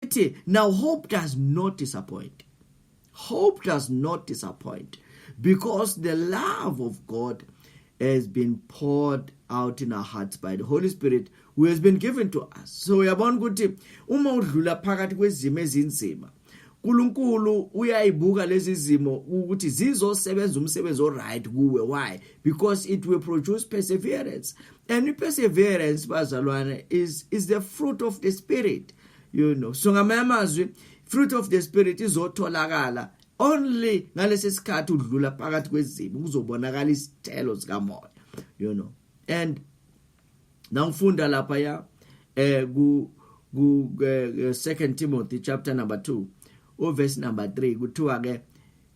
ithi now hope does not disappoint hope does not disappoint because the love of god has been poured out in our hearts by the holy spirit who has been given to us so uyabona ukuthi uma udlula phakathi kwezimo ezinzima uNkulunkulu uyayibuka lezi zimo ukuthi zizosebenza umsebenzi oright kuwe why because it will produce perseverance and perseverance bazalwane is is the fruit of the spirit you know so ngamanye amazwi fruit of the spirit izotholakala only ngalesi sikhathi udlula phakathi kwezibi kuzobonakala isithelo sikamoya you know and nangifunda lapha ya eh ku ku eh, eh, second Timothy chapter number 2 u verse number 3 kuthiwa ke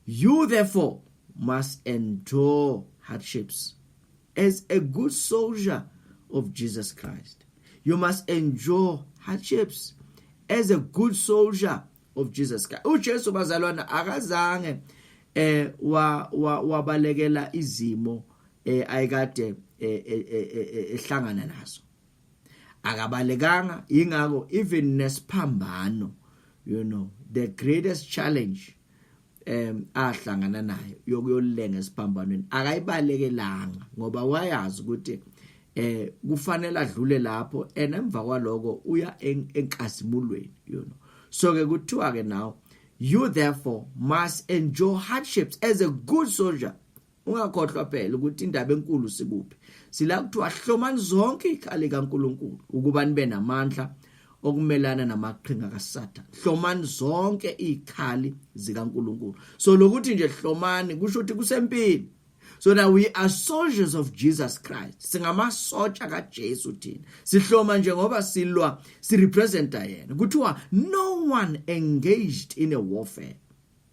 you therefore must endure hardships As a good soldier of Jesus Christ, you must endure hardships as a good soldier of Jesus Christ. UJesu bazalwana akazange eh wa wabalekela izimo eh ayikade eh, eh, eh, ehlangana nazo. Akabalekanga ingakho even nesphambano you know the greatest challenge em ahlangana nayo yokuyolenga esiphambanweni akayibalekelanga ngoba wayazi ukuthi eh kufanele adlule lapho and emva kwaloko uya enkasimulweni you know so ke kuthiwa ke now you therefore must endure hardships as a good soldier Ungakhohlwa phela ukuthi indaba enkulu sikuphi. Sila kuthiwa hlomani zonke ikhali kaNkulunkulu ukuba nibe namandla okumelana namaqhinga kaSathane. Hlomani zonke ikhali zikaNkulunkulu. So lokuthi nje hlomani kusho ukuthi kusempini. So now we are soldiers of Jesus Christ. Singamasotsha kaJesu thina. Sihloma nje ngoba silwa sirepresenta yena. Kuthiwa no one engaged in a warfare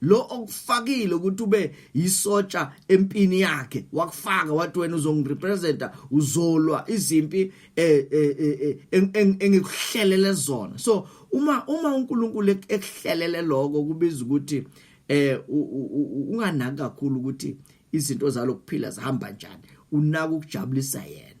lo okufakile ukuthi ube yisotsha empini yakhe wakufaka wathi wena uzongirepresenta uzolwa izimpi eh, eh, eh, engikuhlelele zona so uma uma uNkulunkulu ekuhlelele lokho kubiza ukuthi eh unganaki kakhulu ukuthi izinto zalokuphila zihamba njani unaka ukujabulisa yena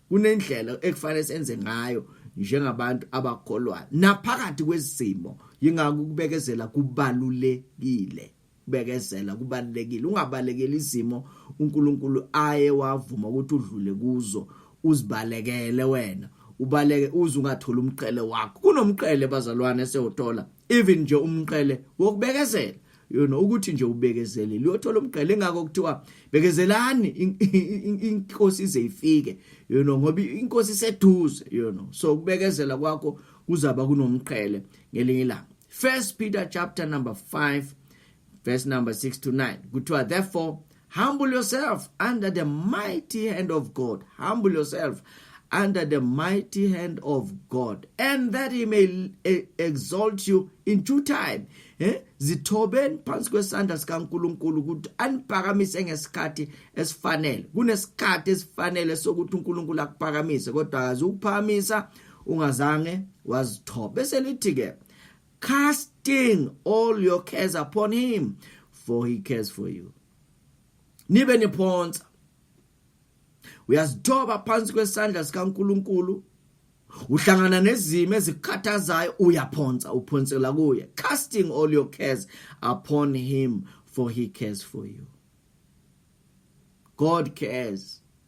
kunendlela ekufanele senze ngayo njengabantu abakholwayo naphakathi kwezimo yingakho ukubekezela kubalulekile bekezela kubalekile ungabalekeli izimo uNkulunkulu aye wavuma ukuthi udlule kuzo uzibalekele wena ubaleke uze ungatholi umqhele wakho kunomqhele bazalwane sewuthola even nje umqele wokubekezela yona ukuthi nje ubekezelile uyothola umgqele ngakho kuthiwa bekezelani inkosi ize ifike you know ngoba inkosi iseduze you know so ukubekezela kwakho kuzaba kunomqhele ngelinye ilanga first peter chapter number 5 verse number 6 to 9 kuthiwa therefore Humble yourself under the mighty hand of God. Humble yourself under the mighty hand of God and that he may eh, exalt you in due time eh zithobeni phansi kwesandla sikaNkuluNkulu ukuthi aniphakamise ngesikhathi esifanele kunesikhathi esifanele sokuthi uNkulunkulu akuphakamise kodwa akazi ukuphakamisa ungazange wazithoba bese lithi ke casting all your cares upon him for he cares for you nibe niphonsa uyazithoba phansi kwesandla sikaNkuluNkulu uhlangana nezimo ezikukhathazayo uyaphonsa uphonsela kuye casting all your cares upon him for he cares for you god cares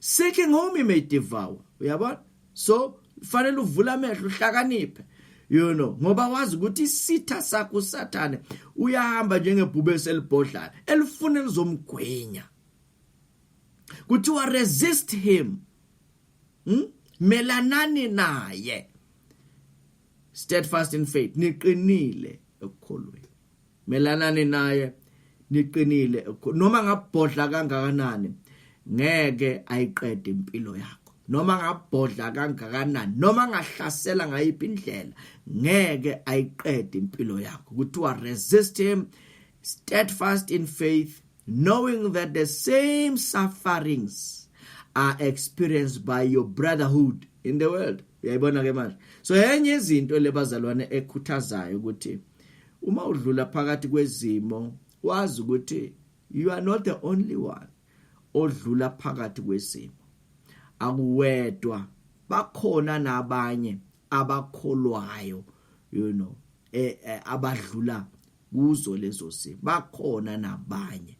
Seeking home may devour. Uyabona? So fanele uvule amehlo uhlakaniphe. You know, ngoba wazi ukuthi isitha sakho uSathane uyahamba njengebhube selibhodlana elifuna elizomgwenya. Kuthiwa resist him. Hmm? Melanani naye. Steadfast in faith, niqinile ekukholweni. melanani naye niqinile noma ngabhodla kangakanani ngeke ayiqede impilo yakho noma ngabhodla kangakanani noma ngahlasela ngayiphi indlela ngeke ayiqede impilo yakho kuthiwa resist him steadfast in faith knowing that the same sufferings are experienced by your brotherhood in the world uyayibona ke manje so yenye izinto lebazalwane ekhuthazayo ukuthi uma udlula phakathi kwezimo wazi ukuthi you are not the only one odlula phakathi kwezimo akuwedwa bakhona nabanye abakholwayo you know eh, eh abadlula kuzo lezo simo bakhona nabanye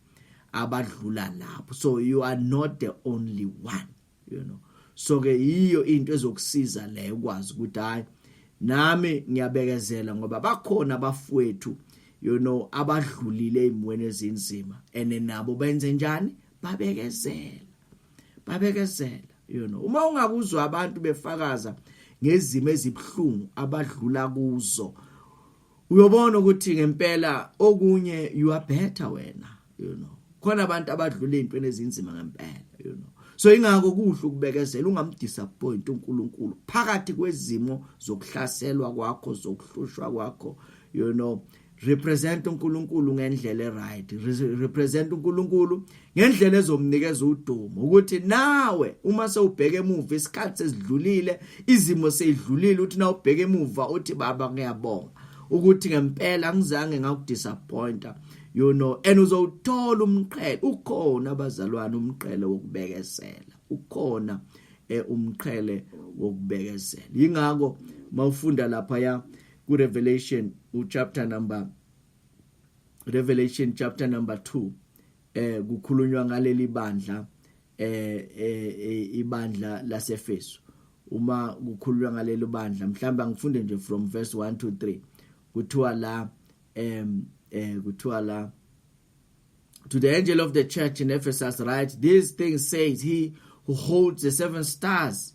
abadlula lapho so you are not the only one you know so ke yiyo into ezokusiza le ukwazi ukuthi hayi nami ngiyabekezela ngoba bakhona abafowethu you know abadlulile ezimweni ezinzima ene nabo benze njani babekezela babekezela you know uma ungakuzwa abantu befakaza ngezimo ezibhlungu abadlula kuzo uyobona ukuthi ngempela okunye you are better wena you know khona abantu abadlula ezintweni ezinzima ngempela you know so ingakho kuhle ukubekezela ungamdisappoint uNkulunkulu phakathi kwezimo zokuhlaselwa kwakho zokuhlushwa kwakho you know represent uNkulunkulu ngendlela eright represent uNkulunkulu ngendlela ezomnikeza udumo ukuthi nawe uma sewubheke emuva isikhathi sesidlulile izimo seyidlulile uthi na ubheke emuva uthi baba ngiyabonga ukuthi ngempela ngizange ngakudisappointa you know and uzowuthola umqhele ukhona abazalwane umqhele wokubekezela ukhona eh, umqhele wokubekezela yingakho mawufunda lapha ya ku Revelation u chapter number Revelation chapter number 2 eh kukhulunywa ngaleli bandla eh, eh, eh ibandla laseFesu uma kukhulunywa ngaleli bandla mhlawumbe angifunde nje from verse 1 to 3 kuthiwa la em eh kuthiwa la to the angel of the church in Ephesus write these things says he who holds the seven stars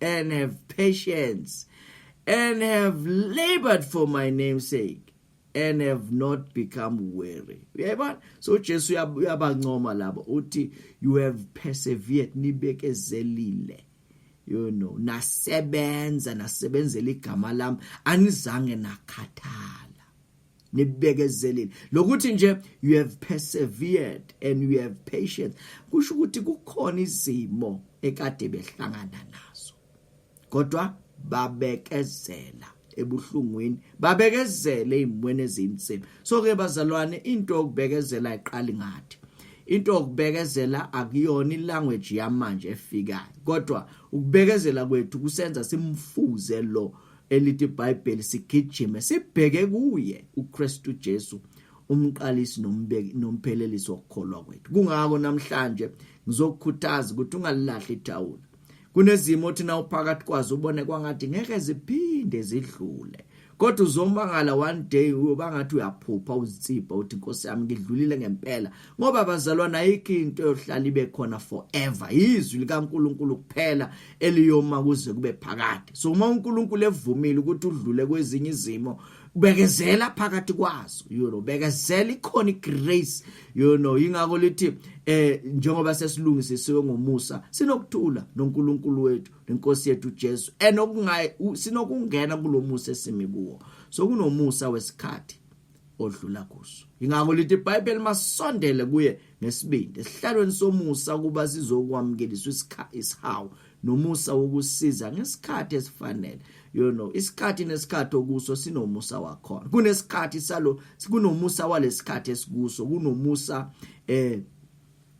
and have patience and have labored for my name's sake and have not become weary uyayibona so Jesu uyabancoma labo uthi you have persevered nibekezelile you know nasebenza nasebenzela igama lami anizange nakhathala nibekezelile lokuthi nje you have persevered and you have patience kusho ukuthi kukhona izimo ekade behlangana nazo kodwa babekezela ebuhlungwini babekezele izimweni ezinzima so ke bazalwane into yokubekezela iqali ngathi into yokubekezela akuyona ilanguage yamanje efikayo kodwa ukubekezela kwethu kusenza simfuze lo elithi iBhayibheli sigijime sibheke kuye uKristu Jesu umqalisi nomphelelisi wokukholwa kwethu kungako namhlanje ngizokukhuthaza ukuthi ungalilahli ithawula kunezimo othi na uphakathi kwazo ubone kwangathi ngeke ziphinde zidlule kodwa uzomangala one day uyoba ngathi uyaphupha uzitsipa uthi inkosi yami ngidlulile ngempela ngoba bazalwana ayikho into yohlala ibe khona forever yizwi likaNkuluNkulu kuphela eliyoma kuze kube phakade so uma uNkulunkulu evumile ukuthi udlule kwezinye izimo bekezela phakathi kwazo you know bekezela ikhona igrace you know ingakho lithi eh njengoba sesilungisisiwe ngomusa sinokuthula noNkulunkulu wethu nenkosi yethu Jesu enokungayi sinokungena kulomusa esimi kuwo so kunomusa wesikhathi odlula kuso ingakho lithi iBhayibheli masondele kuye ngesibindi esihlalweni somusa ukuba sizokwamukeliswa isihawu nomusa wokusiza ngesikhathi esifanele you know isikhathi nesikhathi okuso sinomusa wakhona kunesikhathi salo kunomusa walesikhathi esikuso kunomusa eh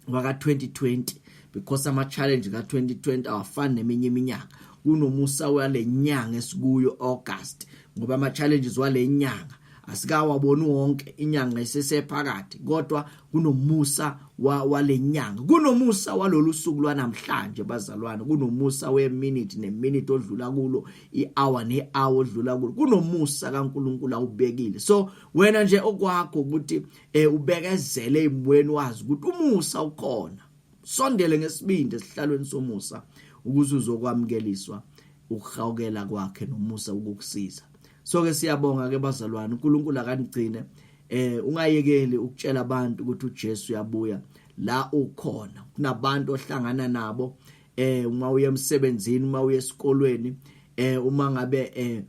waka 2020 because ama challenge ka 2020 awafani neminye iminyaka kunomusa walenyanga esikuyo August ngoba ama challenges walenyanga asikawaboni wonke inyanga isesephakathi kodwa kunomusa walenyanga kunomusa walolu suku lwanamhlanje bazalwane kunomusa weminute neminute odlula kulo ihour nehour odlula kulo kunomusa kaNkuluNkulu awubekile so wena nje okwakho ukuthi eh ubekezele ezimweni wazi ukuthi umusa ukhona sondele ngesibindi esihlalweni somusa ukuze uzokwamukeliswa ukuhawukela kwakhe nomusa ukukusiza so ke siyabonga ke bazalwane uNkulunkulu akanigcine eh ungayekeli ukutshela abantu ukuthi uJesu uyabuya la ukhona kunabantu ohlangana nabo eh uma uye emsebenzini uma uye esikolweni eh uma ngabe eh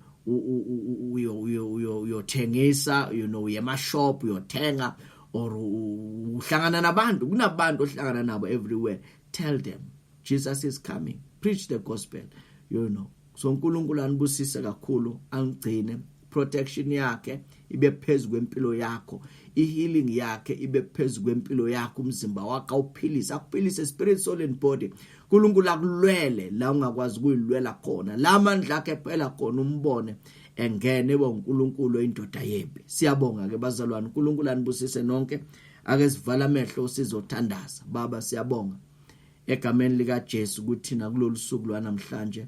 uyothengisa you know uye mashop uyothenga or uhlangana nabantu kunabantu ohlangana nabo everywhere tell them Jesus is coming preach the gospel you know so uNkulunkulu anibusise kakhulu angigcine protection yakhe ibe phezu kwempilo yakho i-healing yakhe ibe phezu kwempilo yakho umzimba wakho awuphilise akuphilise spirit soul and body unkulunkulu akulwele la ungakwazi ukuyilwela khona la mandla akhe phela khona umbone engene eba unkulunkulu oyindoda yempi siyabonga ke bazalwane unkulunkulu anibusise nonke ake sivala amehlo sizothandaza baba siyabonga egameni likaJesu kuthina kulolu suku lwanamhlanje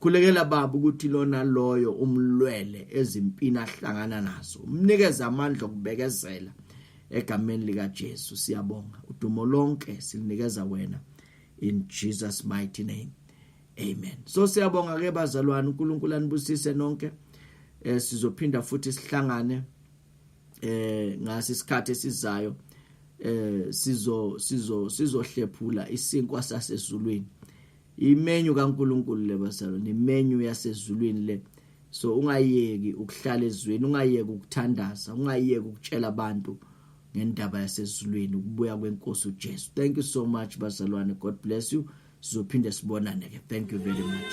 Khulekela baba ukuthi lona loyo umlwele ezimpini ahlangana nazo. Umnikeze amandla okubekezela egameni lika Jesu. Siyabonga. Udumo lonke silinikeza wena in Jesus mighty name. Amen. So siyabonga ke bazalwane uNkulunkulu anibusise nonke. Eh sizophinda futhi sihlangane eh ngasi isikhathi esizayo eh sizo sizo sizohlephula isinkwa sasezulwini. imenyu kaNkuluNkulu le basalo nemenyu yasezulwini le so ungayeki ukuhlala ezweni ungayeki ukuthandaza ungayeki ukutshela abantu ngendaba yasezulwini ukubuya kwenkosi uJesu thank you so much bazalwane god bless you sizophinde sibonane ke thank you very much